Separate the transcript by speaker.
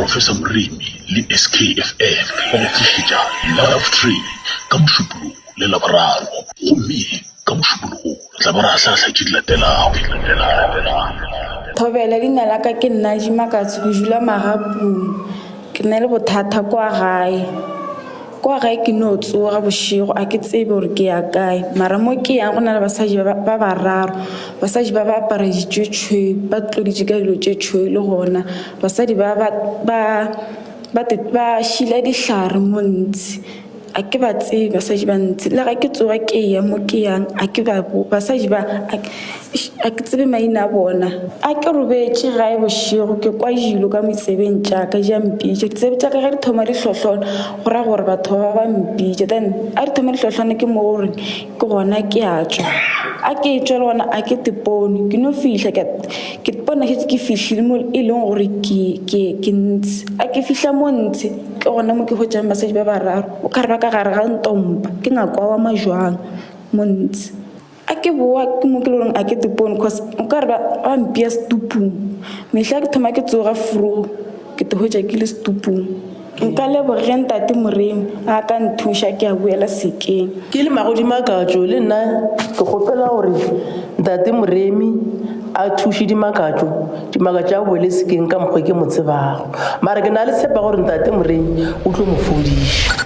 Speaker 1: Professor Moremi le SKFF ba go tlišetša Love Train ka Mošupologo le Laboraro. Gomme ka Mošupologo re tla ba re ahlaahlaa tše di latelago.
Speaker 2: Thobela, Leina la ka ke Nnaji Makatso, ke dula Magapung. Ke na le bothata kwa gae. Kwa gae ke no tsoga bošego a ke tsebe gore ke ya kae, mara mo ke yang go na le basadi ba ba bararo. Basadi ba ba apara ditšo tšhweu, ba tloditše ka dilo tše tšhweu le gona basadi ba ba ba ba ba šila dihlare mo ntsi. A ke ba tsebe basadi ba ntsi le ge ke tsoga ke ya mo ke yang a ke ba basadi ba. A ke tsebe maina a bona. A ke robetše gae bošego, ke kwa jilo ka moitsebeng tša ka di a mpitša. Ditsebe tša ka ge di thoma di hlohlona, go ra gore batho ba ba mpitša. Then a di thoma di hlohlona ke mo gore ke gona ke a tšwa. A ke etšwa le gona a ke tepone, ke no fihla ke ke tepone ke šetše ke fihlile mo e leng gore ke ke ke ntse. A ke fihla mo ntse ke gona mo ke hwetšang basadi ba bararo o ka re ba ka gare ga ntompa ke ngaka wa majwang mo ntse. a ke bowa ke mo ke le goreng a ke tepone cause o ka re ba ba mpea setupung mehla ke thoma ke tsoga frogo ke tegoetša ke le setupung nka leboge ge ntate moremi a ka nthuša ke a boela sekeng ke le magodimo a
Speaker 3: katšo le nna ke kgopela gore ntate moremi a thuše dimakatšo dimakatšo a boele sekeng ka mokgwa ke mo tsebago mara ke na le tshepa gore ntate moremi o tlo mo fodiša